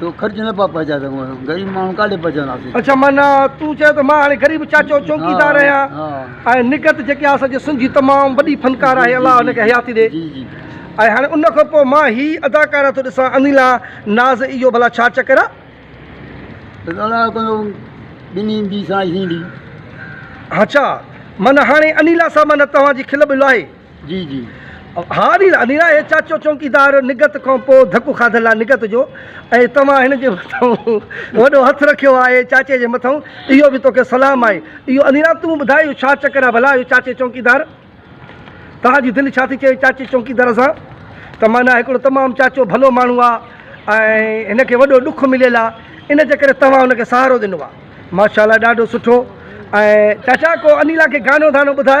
تو خرچ نه پيا پهچائي سگهون اسان غريب ماڻهو ڪاڏي پهچنداسين. اڇا معنيٰ تون چئين ته مان هاڻي غريب چاچو چوڪيدار آهيان ۽ نگهت جيڪي آهي اسانجي سنڌ جي تمام وڏي فنڪار آهي الله هن کي حياتي ڏي ۽ هاڻي ان کان پوء مان هي اداڪارا ٿو ڏسان انيلا ناز اهو ڀلا ڇا چڪر آهي. بس الله تنهنجو ٻنهي جي سائين سين ڏي. اڇا معنيٰ هاڻي انيلا صاحب معنيٰ توهان جي کل ٻل آهي. جي جي ها انيرا هي چاچو چونڪيدار نگهت کان پوء ڌڪ کاڌل آهي نگهت جو ۽ توهان هن جي مٿان وڏو هٿ رکيو آهي چاچي جي مٿان اهو به توکي سلام آهي اهو انيرا تون ٻڌاء اهو ڇا چڪر آهي ڀلا اهو چاچي چونڪيدار توهان جي دل ڇا ٿي چئي چاچي چونڪيدار سان ته معنيٰ هڪڙو تمام چاچو ڀلو ماڻهو آهي ۽ هن کي وڏو ڏک مليل آهي ان جي ڪري توهان هن کي سهارو ڏنو آهي ماشاء الله ڏاڍو سٺو ۽ چاچا ڪو انيرا کي گانو ڌانو ٻڌاء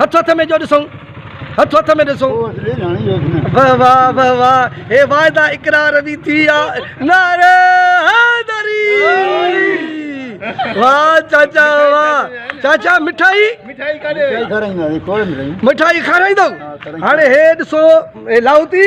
هٿ هٿ ۾ جو ڏسون هٿ هٿ ۾ ڏسون واه واه واه واه هي واعدا اقرار به ٿي آ نعري حيدري واه چاچا واه چاچا مٺائي مٺائي کارائيندو مٺائي کارائيندو هاڻي هي ڏسو لاهوتي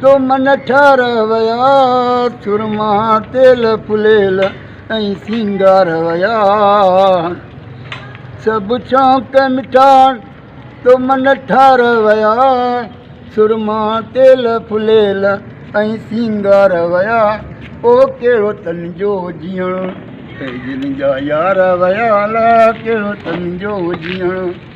تو من ٺار ويا، سرما تيل ڦليل ۽ سينگار ويا. سڀ شوق مٺا، تو من ٺار ويا، سرما تيل ڦليل ۽ سينگار ويا. او ڪهڙو تن جو جيئڻ، ۽ جن جا يار ويا، الاء ڪهڙو تن جو جيئڻ.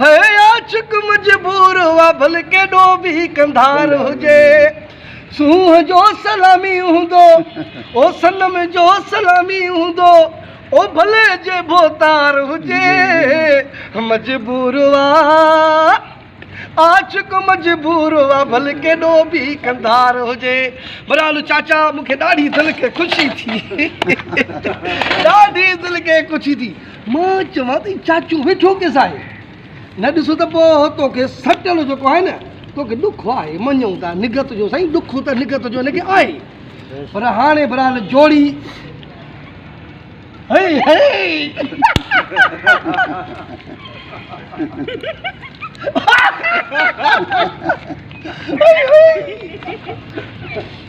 هي عاشق مجبور هئا ڀل ڪيڏو به ڪنڌار هجي سونهن جو سلامي هوندو او صنم جو سلامي هوندو او ڀلي جي ڀوتار هجي مجبور هئا عاشق مجبور هئا ڀل ڪيڏو به ڪنڌار هجي برالو چاچا مون کي ڏاڍي دل کي خوشي ٿي ڏاڍي دل کي خوشي ٿي مان چوان ٿي چاچو ويٺو ڪيس آهي؟ نه ڏسو ته پوء توکي سٽڻ جيڪو آهي نه توکي ڏک آهي، مڃون ٿا نگهت جو سائين ڏک ته نگهت جو هن کي آهي پر هاڻي برحال جوڙي هئي هئي.